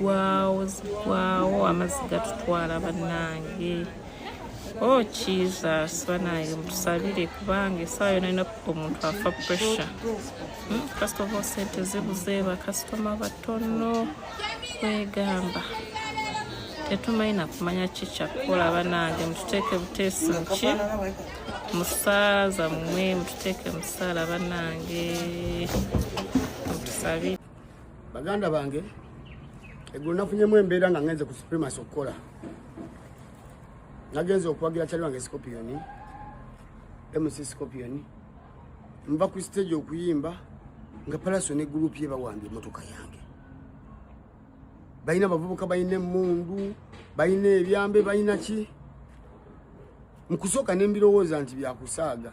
zigwawo zigwawo amazzi gatutwala bannange o oh, jesus banange mutusabire kubanga esaawa yona yona omuntu afa pressure hmm, first of all sente zibuze bakasitoma batono kwegamba tetumanyi nakumanya kikyakukola banange mututeeke buteesi muki musaaza mwe mututeeke musaala banange mutusabi baganda bange eggulo nafunyemu embeera nga ngenze ku supremas okukola nagenze okuwagira kyali wange scopiyoni mc scopiyoni nva ku stage okuyimba nga palaso ne gurupu ye bawambye emotoka yange balina abavubuka balina emundu balina ebyambe balina ki mukusooka nembirowooza nti byakusaaga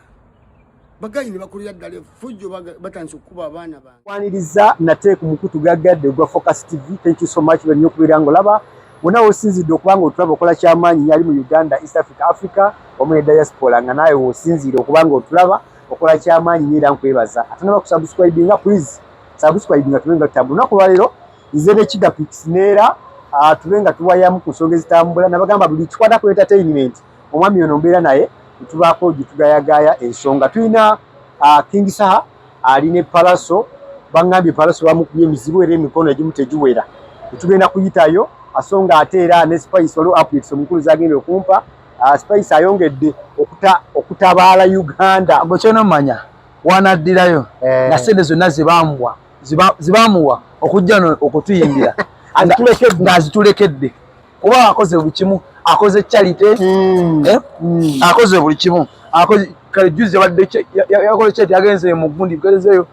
bagayi nebakolera ddala efujjo batandisa okukuba abaana bange kwaniriza nate ku mukutu gaggadde ogwa focus tv thank you so much banyina okubeera nga olaba wona wosinzidde okubanga otulaba okola kyamaanyi yali mu uganda east africa africa wamu ne diaspora nga naawe wosinziire okubanga otulaba okola kyamaanyi nyo era nkwebaza ate nabakusubscribinga please subscribe nga tubenga tabu nako walero nze ne kida pics nera ah, tubenga tuwayamu ku songe zitambula nabagamba buli kikwata ku entertainment omwami ono mbera naye tubako gitugayagaya ensonga tuina ah, king saha ali ne palaso bangambye palaso bamukubye emizibu era emikono egimu tegiwera tugenda kuyitayo asonga ate era ne spice waliwo updates omukulu zagenda okumpa ah, spice ayongedde okutabaala uganda gwekyona manya wanaddirayo eh. nga sente zonna zibambwa zibamuwa okujja no okutuyimbira ng'azitulekedde kuba akoze buli kimu akoze charite hmm. eh? hmm. akoze buli kimu kale juzi yabadde yakoze charite yagenze mu gundi gezeyo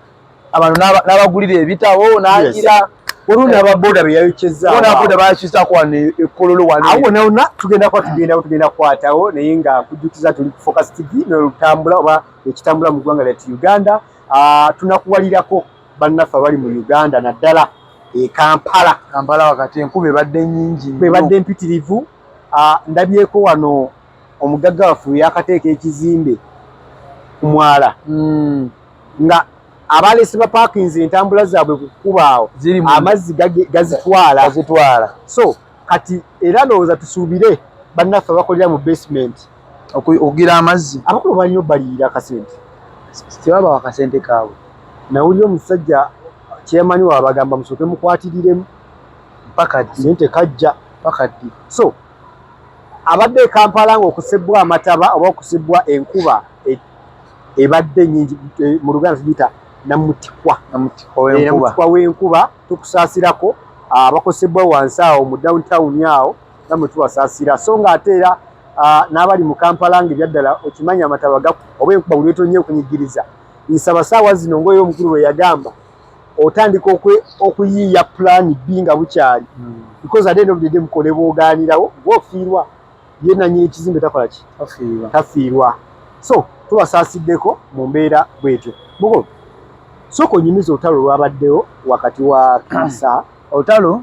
abantu n'abagulira ebitabo n'agira olungi ababoda beyayokezaboda bayakizaako wano ekololo wanawona tugenda kuba tugenda tugenda kukwatawo naye nga kujjukiza tuli ku focus tv nolutambula oba ekitambula mu ggwanga lyattu uganda ah, tunakuwalirako bannaffe abali mu uganda naddala e kampala kampala wakati enkuba ebadde nyingi ebadde mpitirivu ah, ndabyeko wano omugagga waffe weyakateeka ekizimbe ku mwala hmm. nga abaleese bapakinze entambula zaabwe ku kkuba awo amazzi gazitwala so kati era ndowooza tusuubire bannaffe abakolera mu basement okugira amazzi abakulu balina obaliira akasente tebaba wakasente kaabwe nawulira omusajja kyemanyi wabagamba musooke mukwatiriremu mpaka naye tekajja mpaka ddi so abadde ekampala nga okusibbwa amataba oba okusibbwa enkuba e, ebadde nyingi e, mu luganda tugiyita namutikwa namutikwa w'enkuba tukusaasirako abakosebbwa wansi awo mu downtown awo namwe tubasaasira so nga ate era n'abali mu kampala nga ebyaddala okimanyi amataba oba enkuba buli wetonye okunyigiriza nsaba saawa zino ngaoyo omukulu lwe yagamba otandika okuyiiya pulaani bbi nga bukyali hmm. because ate nobudede mukolebwoganirawo gwofiirwa ye nanyini kizimbe takola ki tafiirwa so tubasaasiddeko mu mbeera bwetyo mugo sooka onyumiza olutalo olwabaddewo wakati wa kasa olutalo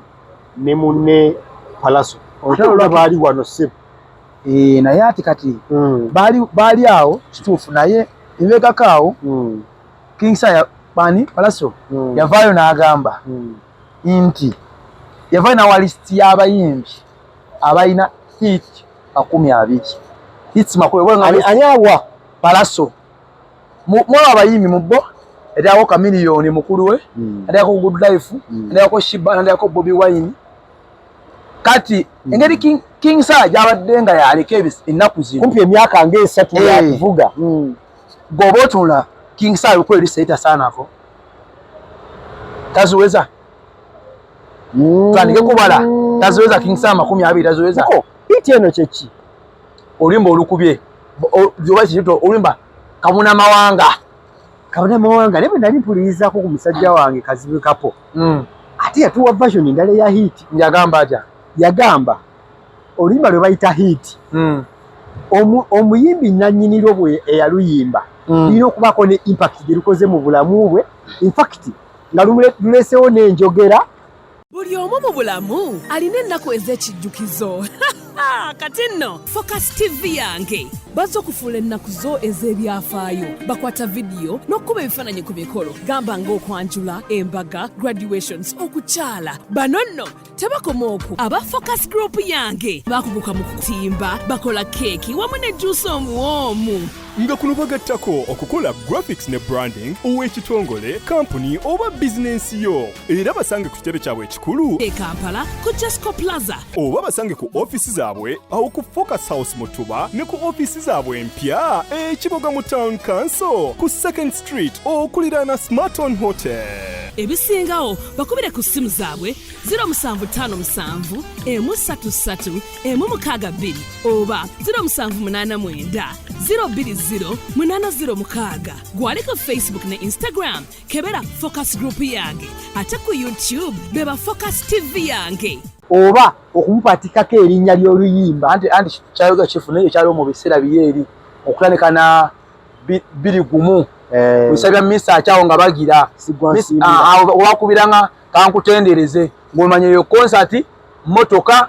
ne munne palaso olutalo lwa baali wano sebo ee eh, naye ati kati mm. baali baali awo kituufu naye ebekako awo mm. kingsa ya bani palaso mm. yavaayo n'agamba mm. nti yavaayo nawa lisiti y'abayimbi abalina hit makumi abiri hit makumi ani awa palaso mwaba abayimbi mu bo eryako kamiliyoni mukulu we hmm. eryako good life hmm. eryako shiba eryako bobi wine kati hmm. engeri king sala gyabadde nga yaleka ennaku zino kumpi emyaka ngaesatu eh. yakuvuga goba otunula king sala olukulu erisaitasaanako taziweza tandike kubala taziweza king saa makumi abiri taziweza iti eno kyeki olimba olukubye obaito olimba kabuna mawanga kabuna mawanga naye bwenali mpulirizaako ku musajja wange kazibu kapo mm. ate yatuwa version endala eya hiiti yagamba atya yagamba oluyimba lwe bayita hiiti mm. omuyimbi nanyinirwo bwe eyaluyimba mm. lina okubaako ne impact gyerukoze mu bulamu bwe infact nga lulesewo n'enjogera buli omu mu bulamu alina ennaku ez'ekijjukizo kati nno focus tv yange bazze okufuula ennaku zo ez'ebyafaayo bakwata vidiyo n'okukuba ebifaananyi ku mikolo gamba ng'okwanjula embaga graduations okukyala bano nno tebakoma okwo aba focus group yange bakuguka mu kutimba bakola keeki wamu ne juusi omuwoomu nga kuno bagattako okukola graphics ne branding ow'ekitongole kampuni oba bizinensi yo era basange ku kitebe kyabwe ekikulu e kampala ku jasco plaza oba basange ku ofiisi zaabwe awo ku focus house mutuba ne ku ofiisi zaabwe empya ekiboga mu town council ku second Street okuliraana Smarton Hotel. ebisingawo bakubire ku ssimu zaabwe 0757 emu 33 emu 62 oba 0789 020 806 gwali ku facebook ne instagram kebera focus group yange ate ku youtube beba focus tv yange oba okumupatikako erinnya ly'oluyimba anti anti kyayogera kifu naye ekyaliwo mu biseera biye eri okutandika na biri gumu eh. nsabira misa akyawo nga bagira owakubiranga ah, ah, kankutendereze ngaomanya eyo konsati motoka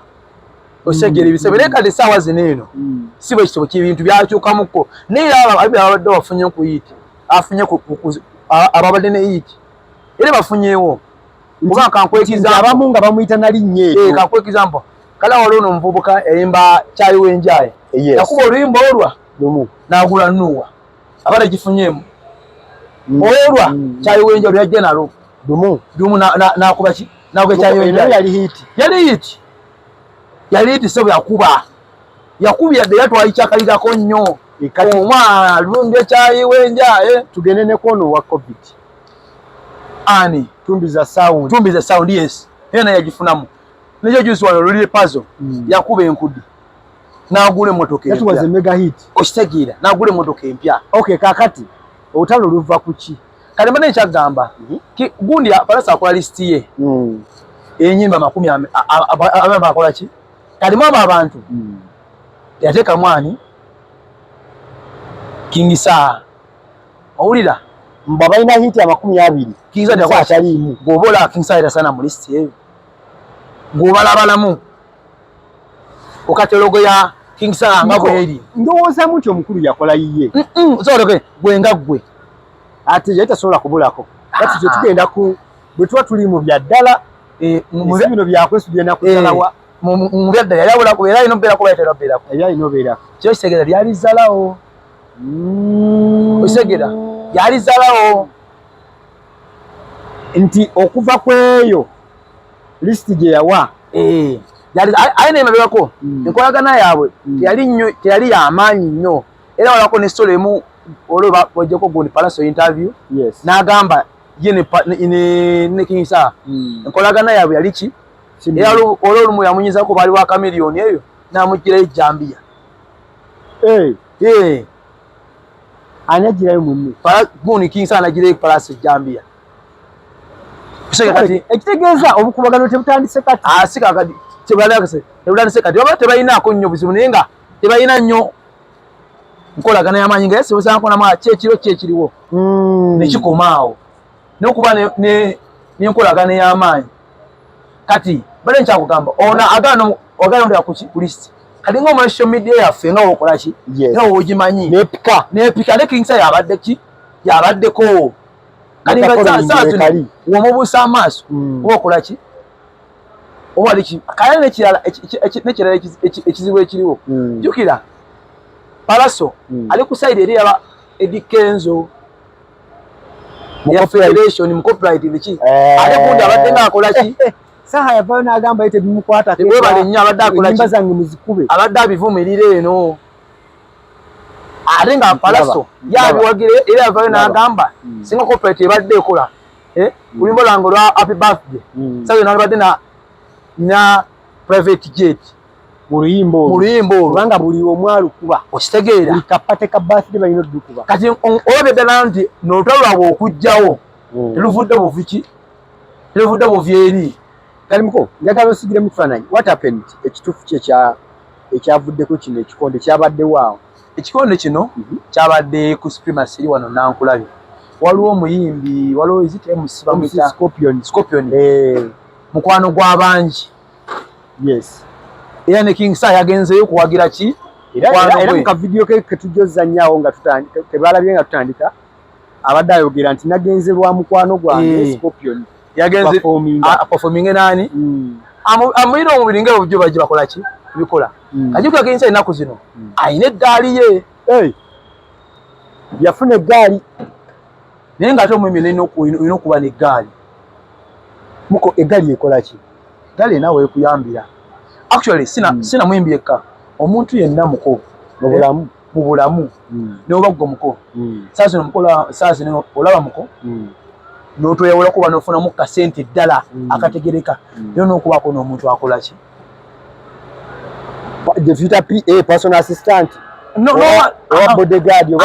osegera mm. ebisebe naye kati esaawa zino eno mm. si bwe kitebo kyebintu byakyukamuko naye ababadde bafunye ku yiiti afunye ababadde ne yiiti era bafunyewo kuba kankwekizabamu nga bamuyita nalinnya eyo eh, kankwekiza mpo kale waliwo nomuvubuka eyimba kyayiwenjaye yakuba oluyimba olwa lumu n'agula nuuwa aba tegifunyeemu mm. olwa mm. kyayiwenja lwe yajja nalo lumu lumu n'akuba ki n'akuba ekyayiwenja yali hiiti yali hiiti yali hiiti sebo yakuba yakubya dde yatwali kyakalirako nnyo omwana lumbye kyayiwenja eh. tugende ne kwono wa covid ani tumbiza sound tumbiza sound yes ena yagifunamu nekyo juzi wano lulire pazo mm. yakuba enkudi n'agula emmotoka empya. That was a mega hit. Okitegeera n'agula emmotoka empya. Okay kakati olutalo luva ku ki? Kale mbadde nkyagamba mhm. gundi apalasa akola lisiti ye hmm. enyimba makumi abamba akola ki kalimu abo abantu hmm. yateeka mwani kingisaa owulira mba balina hiti amakumi abiri kingisaataliimu gwoba olaba kingisaa era sana mu lisiti eyo gwobalabalamu okatologo ya king sala nga kweli ndowoza mutyo mukulu yakola yiye mm -mm. so okay gwe nga gwe ati yeta sola kubulako kati ah, ah. tugenda ku bwe tuwa tuli mu bya dala eh mu bino bya kwesu bya nakutalawa eh. mu bya dala yabula ku era inobera ku bayitera bera ku era inobera kyo segera byali zalawo mm. segera byali zalawo nti okuva kweyo list gye yawa eh. aye nemabegako hmm. enkolagana yaabwe hmm. teyali yamaanyi nnyo era walako ne story emu olwoba wajjako gundi palaso interview n'agamba ye ne kingisaa hmm. enkolagana yaabwe yali ki era olwolumu yamunyizako baali wa kamiliyoni eyo n'amugirayo ejjambiya eh. Eh. ani ajirayo munne gundi kinsa anajirayo palasi ejambiya ekitegeeza obukubagano tebutandise kati asi ah, kakati tebutandise kati oba tebalinaako nnyo buzibu naye nga tebalina nnyo nkolagana yamaanyi nga yesibuzaankonamu kyekiro kyekiriwo hmm. nekikoma awo n'okuba n'enkolagana ey'amaanyi kati bale nkyakugamba ono agaana ogana olya kuki ku list kati nga omwana social media yaffe nga wokola ki nga wogimanyi nepika nepika ne kingsa yabadde ki yabaddeko kati nga saatu womubuusa amaaso mm. wokola ki owali ki kaya nekirala nekirala ekizibu ekiriwo mm. jukira palaso mm. ali ku side eri yaba edikenzo ya federation mu copyright biki eh. ate kundi abadde ng'akola ki saha yavayo n'agamba ye tebimukwata webale nnyo abadde akola ki zange muzikube abadde abivumirira eno ate nga palaso yabiwagira era yavayo n'agamba hmm. singa copyright ebadde ekola eh? hmm. oluyimba lwange olwa happy birthday hmm. sayo nalibadde na private jet mu luyimba olwo mu luyimba olwo kubanga buli omu alukuba okitegeera buli kapate ka birthday balina oddukuba kati olabye ddala nti n'olutalo lwabwe okujjawo hmm. teluvudde buviki teluvudde buvi eri kalimuko njagala osigire mu kifaananyi what happened ekituufu kye kya ekyavuddeko kino ekikonde kyabaddewo awo ekikonde kino mhm. kyabadde ku supremacy eri wano nankulabe waliwo omuyimbi waliwo ezitmuscopion eh. mukwano gw'abangi yes era ne king sa yagenzeyo kuwagira ki era mu kavidiyo ke ketujja ozanyaawo nga kebalabye nga tutandika abadde ayogera nti nagenze lwa mukwano gwange eh. scorpion yagenze performing nani hmm. amuyira omubiri nga obujjo bajje bakola ki bikola hmm. kajukira king sa enaku zino hmm. ayina eddaali ye yafuna eggaali naye nga ate omwemi olina okuba n'eggaali muko eggaali ekola ki eggaali erina weekuyambira actually sina mm. sina mwembi yekka omuntu yenna muko mu bulamu mu bulamu mm. newoba gwe muko mm. saa zino muko saa zino olaba muko mm. notweyawulako oba nofunamu kasente ddala mm. akategereka mm. era nokubaako n'omuntu akola ki gyetuyita pa personal assistant no, no, owa, owa uh, bodyguard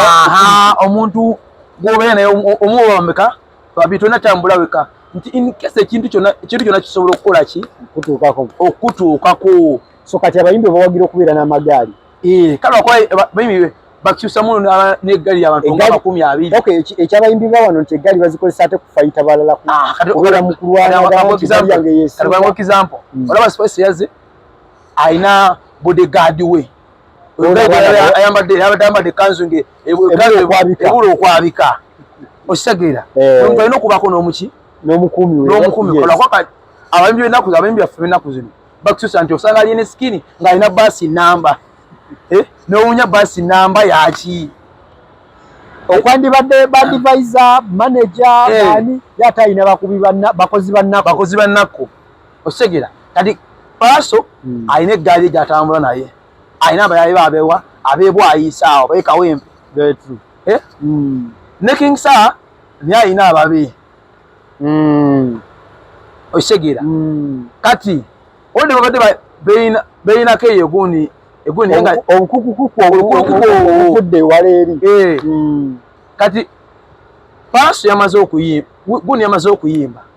omuntu gwobeera naye omuwoba bameka babi tolina tambula weka nti inkese ekintu kyona ekintu kyona kisobola okukola ki okutuukako okutuukako so kati abayimbi obawagira okubeera n'amagaali ee eh, kale wakola bayimbi bakyusa muno n'eggali yabantu nga makumi abiri ok ekyabayimbi ba wano nti eggali bazikozesa ate kufayita balala ah, kubeera mu kulwanaaekiampo hmm. olaba spice yaze alina bodyguard we ayambadde ayambadde ekanzu nge ebula okwabika okitegeera eh. omuntu alina okubaako n'omuki n'omukuumi n'omukuumi kolakwaka abayimbi b'ennaku abayimbi baffe b'ennaku zino bakususa nti osanga aliye ne sikini ng'alina baasi namba eh? n'owunya baasi namba yaki okwandibadde badivisa manaja eh. ani ye ate alina bakubi bakozi bannaku okitegera kati paaso hmm. alina eggaali ye gyatambula naye alina abayaye babewa abebwayisa awo bekawempe eh? hmm. ne king sa naye alina ababe hmm. okitegera kati olde babadde beyinako eyo gundi obukukukukukukukukude ewala eri eh. kati paaso yamaze okuyimba gundi yamaze okuyimba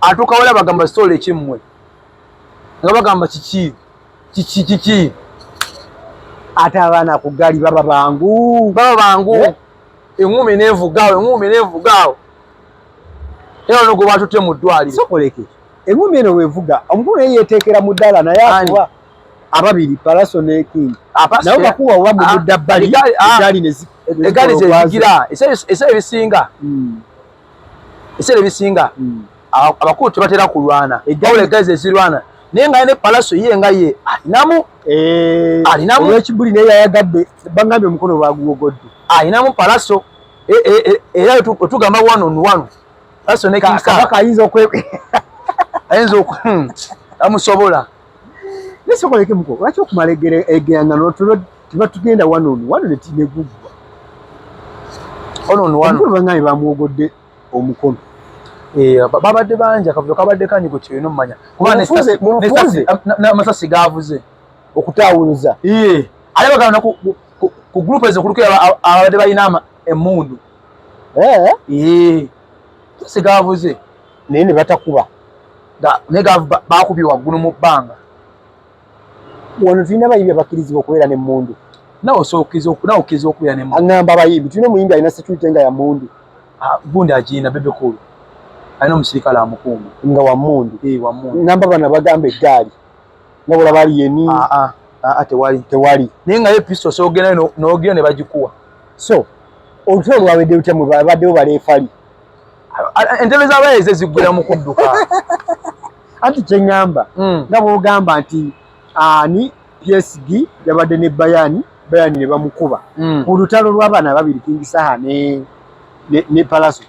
atuuka wala bagamba sitoola ekimmwe nga bagamba kiki kiki kiki ate abaana ku ggaali baba bangu baba bangu eh? eŋumi nevugaawo eŋumi nevugaawo era ono gwe batutte mu ddwaliro sokoleke eŋumi eno wevuga omukulu naye yeteekera mu ddala naye akuba ababiri palaso ne king ah, naye bakuwa oba mu ah, mudda bbali ah, egaali nezigira esa ebisinga hmm. ebiseera ebisinga hmm. abakulu tebatera kulwana egawula egazi ezirwana naye nga ne palaso ye nga ye alinamu eh, alinamu olwekibuli naye yayagadde bangambye omukono baguwogodde alinamu palaso e, e, e, era wetugamba one on one palaso ne kabaka ayinza okwe ayinza oku hmm, amusobola Nesobola ke muko lwaki okumala egere egeyanga no tulo tiba tugenda wano no wano ne tine gugwa ono no wano banga ne bamuogodde omukono eh babadde banja kavuyo kabadde kanyi ku kino manya kuba ne sase ne sase na masasi gavuze okutawuza eh ale bagana na ku ku group ezo kuluke abadde bayinama emundu eh eh sase gavuze naye ne batakuba naye bakubye waggulu mu bbanga wano tulina abayimbi abakkirizibwa okubeera ne mundu nawe osobola okukkiriza okubeera ne mundu aŋamba abayimbi tulina omuyimbi alina security nga ya mundu ah, gundi agiina bebekulu alina omusirikale amukuuma nga wamundu eh, namba bana bagamba eggaali nabula bali yeni ah, ah. Ah, ah, tewali tewali naye nga episto sogenda nogenda ne bagikuwa so olutalo lwawedde lutya mwe babaddewo baleefali entebe zabayeze zigwira mu kudduka anti kyeŋamba hmm. nga bwogamba nti ani psg yabadde ne bayani bayani ne bamukuba hmm. ku lutalo lw'abaana ababiri kingisaha ne, ne, ne palaso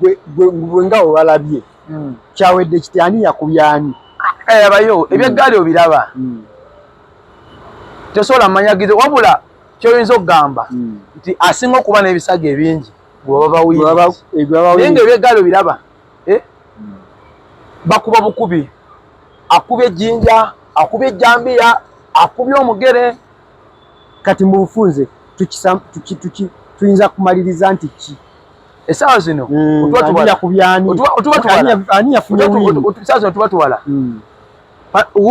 gwe nga obalabye hmm. kyawedde kiti ani yakubyani eyabayo eh, ebyeggaali obiraba tesobola manyagizo wabula kyoyinza okugamba nti asinga okuba n'ebisago ebingi naye nga ebyegaalo biraba eh? hmm. bakuba bukubi akuba ejjinja akuba ejjambiya akuba omugere kati mu bufunze tuyinza kumaliriza nti ki esaawa zino hmm, otubatwalaotuba twala hmm.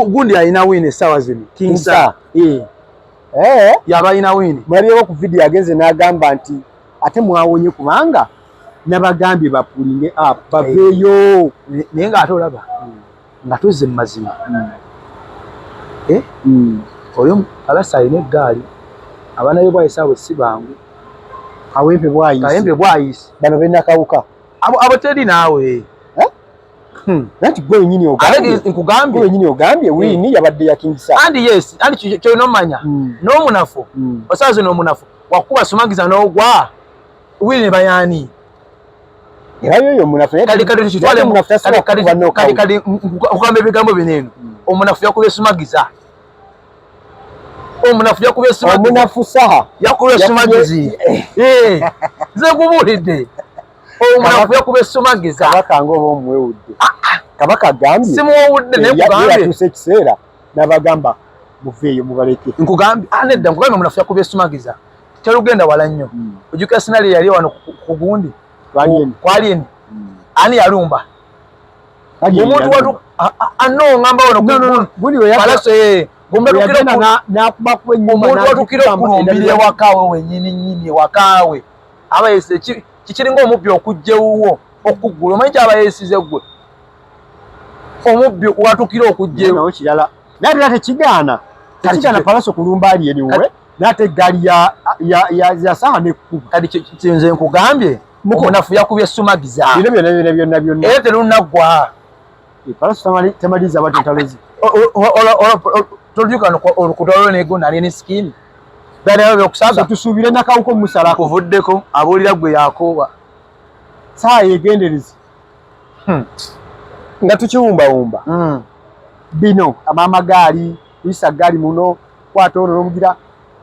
gundi alina wiini esaawa zino kinsa eh. eh? yaba alina wiini mwalirewo ku vidiyo agenze n'agamba nti ate mwawonye kubanga nabagambye bapulinge up baveeyo naye nga ate olaba nga tuzze mu mazima hmm. eh? hmm. oyo alasa alina eggaali abaana be bwayisa abo si bangu kawempe bwayisi bano benakawuka abo teri naawe eh? Hmm. Nanti gwe nyini ogambye. Ate nkugambye. Gwe nyini ogambye wini hmm. yabadde ya King Saha. And yes, and kyo no manya. Hmm. No munafu. Hmm. Osaze no munafu. Wakuba sumagiza no gwa. Wini ne bayani. Era yo yo munafu. Kali kali kyo twale munafu tasa. Kali kali no kali kali ukambe bigambo bineno. Hmm. Omunafu yakuba sumagiza. Omunafu yakuba sumagiza. Omunafu Saha. Yakuba sumagiza. Eh. Ze kubulide. kabaka nga oba omuwewudde ah, ah. kabaka agambyeatuuse ekiseera nabagamba muveeyo mubaleke nkugambye ah, nedda nkugambye munafu yakuba esumagiza terugenda wala nnyo hmm. ojukira sinali yali wano kugundi kwalieni hmm. ani yalumba omuntu watu anno ngamba wano palaso yeye omuntu watukira okulumbira ewakaawe wenyini nyini ewakaawe abayese kikiringa omubbi okujja ewuwo okuggula omanyi kyabayesize gwe omubbi watukira okujja ewo kirala naye tera tekigaana tekigaana palaso kulumba ali eriwe nate eggaali yasaha nekkuba kati kinze nkugambye mukunafu yakubye sumagiza bino byona byona byona byona era terunaggwa palaso temaliza batentalozi Toljuka no olukudalo ne gona ne skin. Dali awe okusaza tusubire na kauko musala. Kuvuddeko abulira gwe yakoba. Saa yegenderezi. Hmm. Nga tukiwumba wumba. Hmm. Bino amama gali, isa gali muno kwata ono nomugira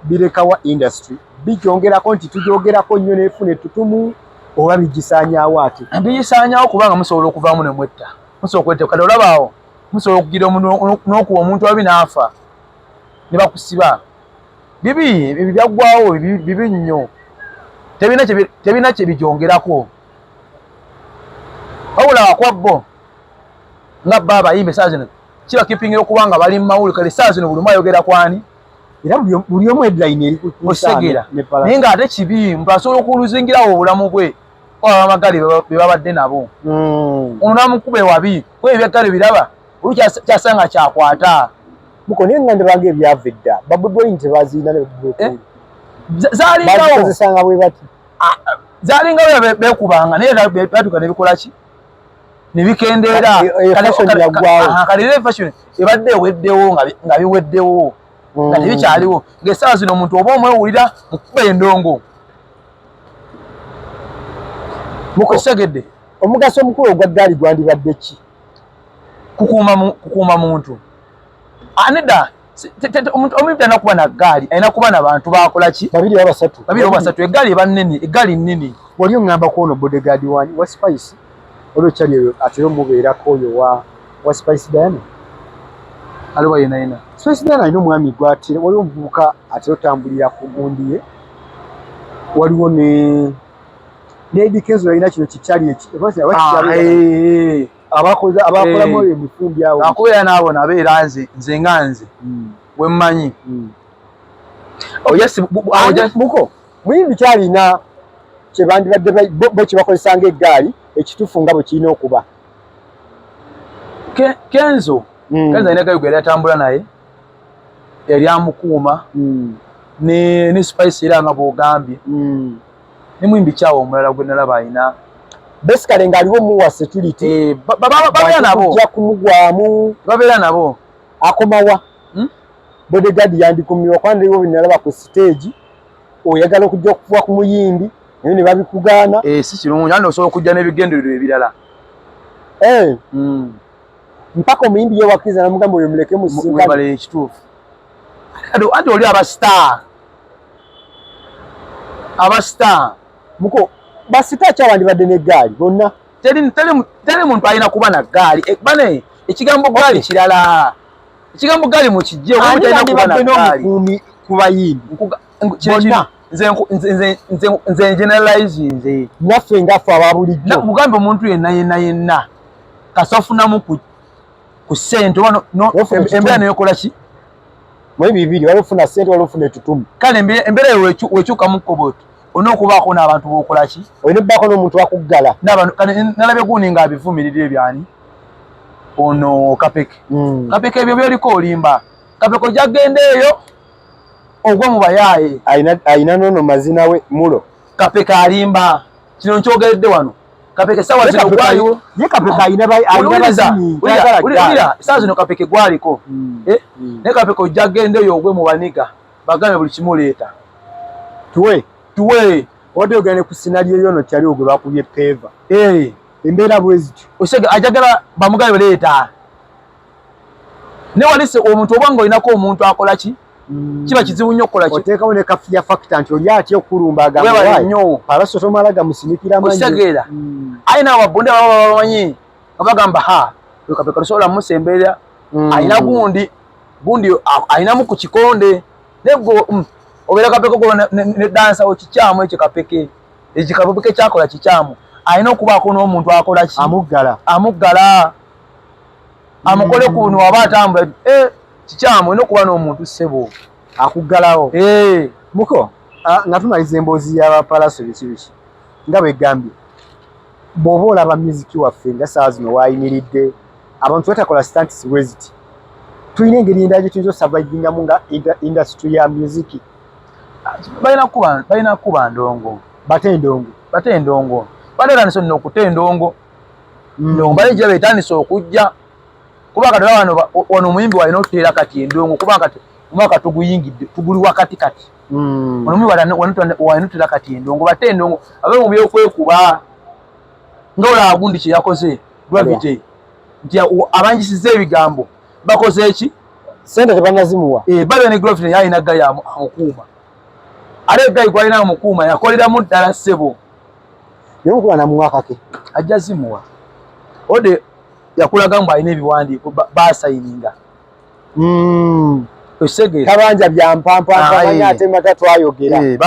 birekawa industry. Bijongera ko nti tujogera ko nyo ne fune tutumu oba bijisanyawo ati. Bijisanyawo kubanga musobola okuvamu ne mwetta. Musobola kwete kale olabaawo. musobola okugira omuntu n'okuwa omuntu ababi n'afa ne bakusiba bibi ebyo byaggwawo bibi nnyo tebirina kye bijongerako wabula wakwa bo nga bba abayimba esaa zino kiba kipingira okuba nga bali mu mawuli kale esaa zino buli omu ayogera kwani era buli omu edilayini eri kusegera naye nga ate kibi mbu asobola okuzingirawo obulamu bwe abamagali bebabadde nabo hmm. ono namukuba ewabi kuba ebyaggale biraba oli kyasanga kyakwata muko naye nga ndibanga ebyava edda babudwaini tebaziina eh? zalingawoozesanga bwe bati ah, zalingawo bekubanga naye batuka nebikolaki nebikendeera kalire fashion ebadde eweddewo nga biweddewo nga hmm. tebikyaliwo ngaesaawa zino omuntu oba omwewulira mukuba endongo mukusegedde omugaso omukulu ogwa ggaali gwandibadde ki kukuuma muntu aneda omuntu alina kuba na ggaali alina kuba na bantu bakola ki babiri oba basatu babiri oba basatu eggaali eba nnene eggaali nnene wali oŋŋamba ku ono bodegaadi wani wa sipayisi Olwo chali oyo atera omubeerako oyo wa wa Spice Diana aliwa yena yena. Spice Diana alina omwami gwatera, waliwo omuvubuka atera otambulira ku gundi ye, waliwo ne Lady Kenzo yalina kino kichali eki abakoze abakola mu eh. emifumbi awo akubeera n'abo nabo era nze nze nga nze hmm. wemmanyi hmm. ojamuko muyimbi kyalina kyebandibadde bo kyebakozesa nga eggaali ekitufu nga bwekirina okuba kenzo hmm. kenzo alina gayuga yali atambula naye yali amukuuma hmm. ne spice era nga bwogambye hmm. ne muyimbi kyawa omulala gwenalaba alina basically ng'aliwo muwa security eh, babeera nabo ja kumugwamu babeera nabo akomawa hmm? bodyguard yandikumibwa kwandiwo binalaba ku stage oyagala okujja okufuwa ku muyimbi naye ne babikugaana eh, si kirungi andi osobola okujja n'ebigendererwa ebirala eh. hmm. mpaka omuyimbi ye wakkiriza namugamba oyo muleke musinkale ekituufu anti oli aba star aba star muko basita akyawandibadde n'eggaali bonna teri muntu alina kuba na ggaali eh, bane ekigambo ggaali kirala Ekigambo ggaali mukijje oba mutalina kuba na ggaali. Ku bayimbi. Bonna. Nze generalizinze. Naffe nga ffe aba bulijjo. Mugamba omuntu yenna yenna yenna kasita ofunamu ku ku ssente oba embeera neyokola ki? Mwe bibiri waliwo ofuna ssente waliwo ofuna etutumu. Kale embeera wekyukamu kkoboto. olina okubaako n'abantu bokolaki olina okubaako n'omuntu wakuggala nalabye gundi nga abivumirira ebyani ono kapeke hmm. kapeke ebyo byoliko olimba kapeke ojagenda eyo ogwe mu bayaaye alina nono mazina we mulo kapeke alimba kino nkyogeredde wano kapeke sawa zino gwaliwo ye kapeke ayina bai ayina bazini ulira saa zino kapeke gwaliko hmm. eh hmm. ne kapeke ojja gende yo ogwe mu baniga bagana buli kimu leeta tuwe tuwe wadde ogenda ne ku sinaliyo yono kyaliwo gwe bakubye peeva eh. embeera bwezityo osega ajagala bamugale leeta newalise omuntu oba nga olinako omuntu akola ki mm. kiba kizibu nnyo okukola oteekawo ne kafiya fakita nti oli atya okulumba agamnyo abaso tomala gamusinikira amaotegeera mm. aye nawe babunde baba babamanyi nga bagamba ha wekapeka tosobola musembeera mm. alina gundi gundi alinamu ku kikonde nego mm, obeera kapeke ko ne dansa wo kikyamu ekyo kapeke ekyo kapeke kyakola kikyamu alina okubaako n'omuntu akola ki amuggala amuggala amukole ku buno waba atambula eh, kikyamu olina okuba n'omuntu ssebo akuggalawo eh. muko nga tumaliza emboozi y'abapalaso biki biki nga bwegambye bw'oba olaba muziki waffe nga saawa zino waayimiridde abantu batakola stantis bweziti tulina engeri endala gye tuyinza osavaivingamu nga indasitry ya muziki balina kukuba ndongo bate endongo bate endongo bateranisa olina okuta endongo mm. ndongo bale gya betandisa okujja kuba kati wano omuyimbi walina okuteera kati endongo kuba kati omwaka tuguyingidde tuguli wakati kati mm. onomu bala wanutira kati endongo bate endongo abe mu byokwekuba nga olaba gundi kye yakoze gravity nti abanjisiza ebigambo bakoze eki sente tebanazimuwa eh, babe ne gravity yalina gayi amukuuma ate egayi gwalina amukuuma yakoleramu ddala ssebo naye omukuba namuwakake ajja zimuwa ode yakulaga mbu alina ebiwandiiko basayininga ba mm. kabanja byampampaaanya ate mata twayogera eh,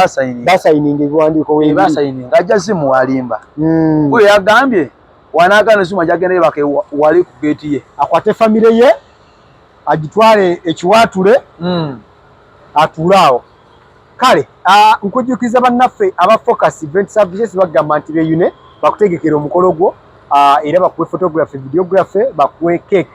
basayininga ebiwandiiko webasayininga eh, ajja zimu walimba mm. kuyo yagambye wanagana zuma jagenda yebake wali ku geeti ye akwate famire ye agitwale ekiwaatule mm. atuule awo kale nkujjukiza bannaffe aba focus event services bagamba nti beyune bakutegekera omukolo gwo era bakuwe photography videography bakuwe cake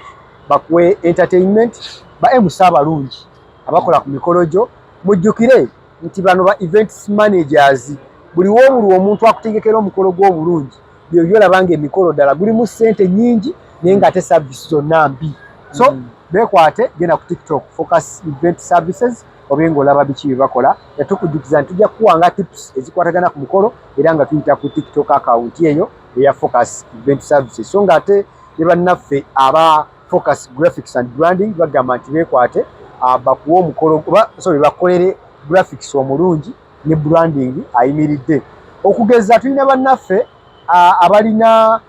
bakuwe entertainment ba MC abalungi abakola ku mikolo gyo mujjukire nti bano ba events managers buli wobuli omuntu akutegekera omukolo gw'obulungi byebyo olaba nga emikolo ddala gulimu ssente nyingi naye nga ate service zonna mbi so mm. bekwate genda ku tiktok focus event services obe ngaolaba biki byebakola etukujjukiza nti tujja kukuwanga tips ezikwatagana ku mukolo era nga tuyita ku tiktok akawunti eyo eya focus event services so nga ate ne bannaffe aba focus graphics and branding bagamba nti bekwate ah, bakuwa omukolo oba sorry bakolere graphics omulungi ne branding ayimiridde okugeza tulina bannaffe ah, abalina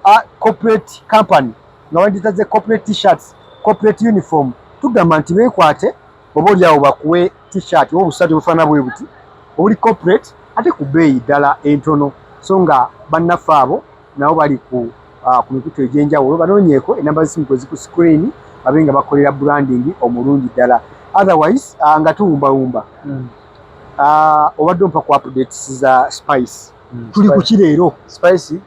ah, corporate company nga bagitaze corporate t-shirts corporate uniform tugamba nti bekwate oba oli awo bakuwe t-shirt oba obusaati obufaana bwe buti obuli corporate ate ku bbeeyi ddala entono so nga bannaffe abo nabo bali ku uh, ku mikutu egy'enjawulo banoonyeeko enamba z'essimu kwe ziku screen babe nga bakolera branding omulungi ddala otherwise uh, nga tuwumbawumba mm. uh, obadde ompa ku updates za spice mm, tuli kuki leero spice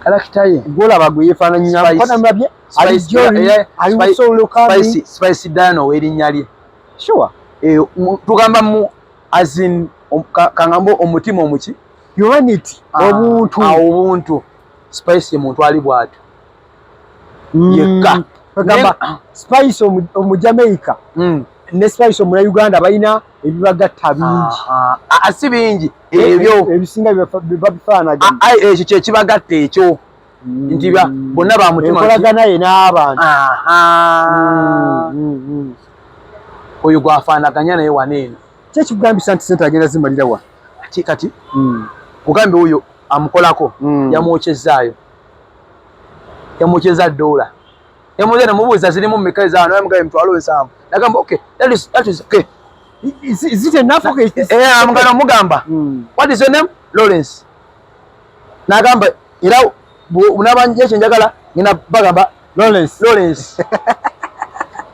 kalakita ye gwolaba gwe yefaananyinamulabye ali joni ali musoulukami spice diana owerinnya lye sure eh, tugamba mu azin um, kangamba omutima omuki humanity ah, obuntu ah, obuntu spice ye muntu ali bwatu mm. yekka kagamba ah. spice omujamaica mm. ne spice omuna uganda balina ebibagatta bingi asi bingi ebyo ebisinga babifaanagana ah, ah, ekyo kyekibagatta ekyo mm. nti bonna bamutumakolaganaye n'abantu mm, mm, oyo gwafaanaganya naye wana eno kyekigambisa nti sente agenda zimalira wa ati kati kugambe oyo amukolako yamwokyezaayo yamwokyeza doola ne muze ne mubuuza zirimu mmeka ezaano naye mugabe mitwalo nsanvu nagamba okay that is, that is okay is, is it enough okay eh, eh, eh amugana mugamba hmm. what is your name Lawrence nagamba era unabanje ekyo njagala ngina bagamba Lawrence Lawrence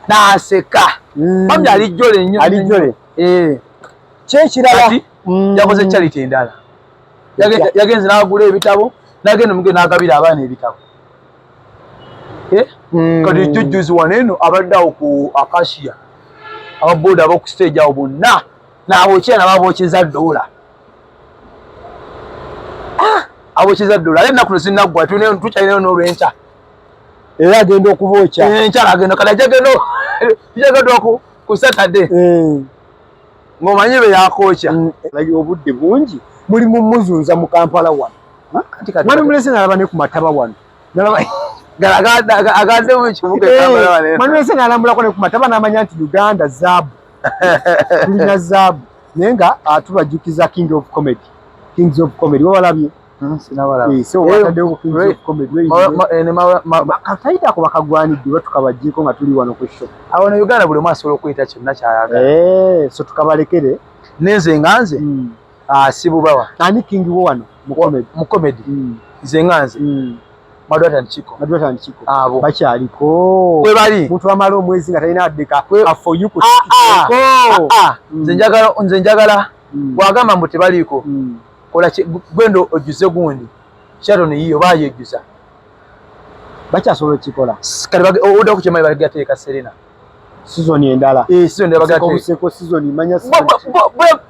naseka hmm. bambi alijjole nnyo alijjole eh kyekirala hmm. yakoze charity endala yagenze n'agula ebitabo nagenda mugenda n'agabira abaana ebitabo eh? hmm. kati jujjuzi wano eno abadde awo ku akasia ababoda aboku stage awo bonna nabokyera nababokyeza dola ah! abokyeza dola ale ennaku zinaggwa tukyalinayo nolwenkya era agenda okubokya enkyala eh, agenda kati ajagenda ku saturday eh. ng'omanyi be yakookya mm. like obudde bungi muli mu muzunza mu kampala wano mwami mulese nalaba ne ku mataba wano nalaba agande mu kibuga eh, kampala wano mwami mulese nalambulako ne ku mataba n'amanya nti uganda zaabu tulina zaabu naye nga atubajjukiza ah, king of comedy kings of comedy wabalabye Hmm, katayita ku bakagwanidde batukabajjeko nga tuli wano ku sho awo ne uganda buli omu asobola okuyita kyonna kyayagala eh, so tukabalekere nenze nga nze hmm. ah, sibubawa ani king wo wano mu comedy hmm. nze nga nze madwatandikiko madwatandikiko abo bakyaliko kwe bali muntu amala omwezi nga talina addeka for you ah, ah, nze njagala nze njagala bwagamba mbu tebaliiko kola gwenda ojjuze gundi sharon yiyo bayejjuza bakyasobola okikola kati odaku kyemali baligateeka serena sizoni endala eh, sizoni bagateeka sizoni manya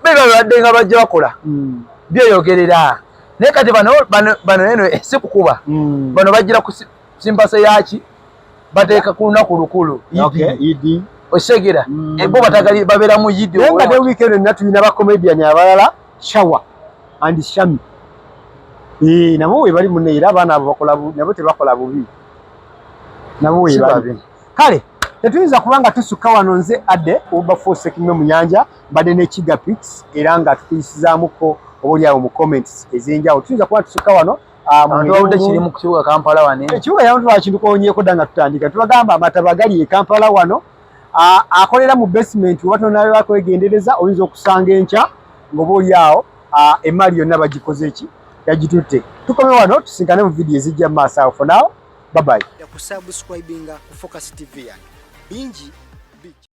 bebabadde nga bajja bakola hmm. byeyogerera naye kati bano bano eno eh, si kukuba hmm. bano bajjira ku simpasa yaki bateeka ku lunaku lukulu idi osegera hmm. eh, bo batagali babeera mu yidi nga ne wiikendo nina tulina bakomediani abalala Shawa and Shami. Eh, nabo we bali munne era abaana abo bakola bubi, nabo tebakola bubi. Nabo we bali. Kale, tetuyinza kubanga tusukka wano nze adde oba force kimwe mu nyanja mbadde ne Kiga Pics era nga tukuyisizaamuko obuli awo mu comments ezenjawo tuyinza kuba tusukka wano Antuwawude kiri mu kibuga Kampala wano. Ekibuga yamuntu wakintu konyeko danga tutandika. Tubagamba amataba gali e Kampala wano. akolera mu basement oba tonaaba kwegendereza oyinza okusanga enkya ngoba oli awo emaali yonna bagikoze ki yagitutte tukome wano tusinkane mu vidiyo ezijja mu maaso awo fonawo babayi kusubscribinga ku focus tv yange bingi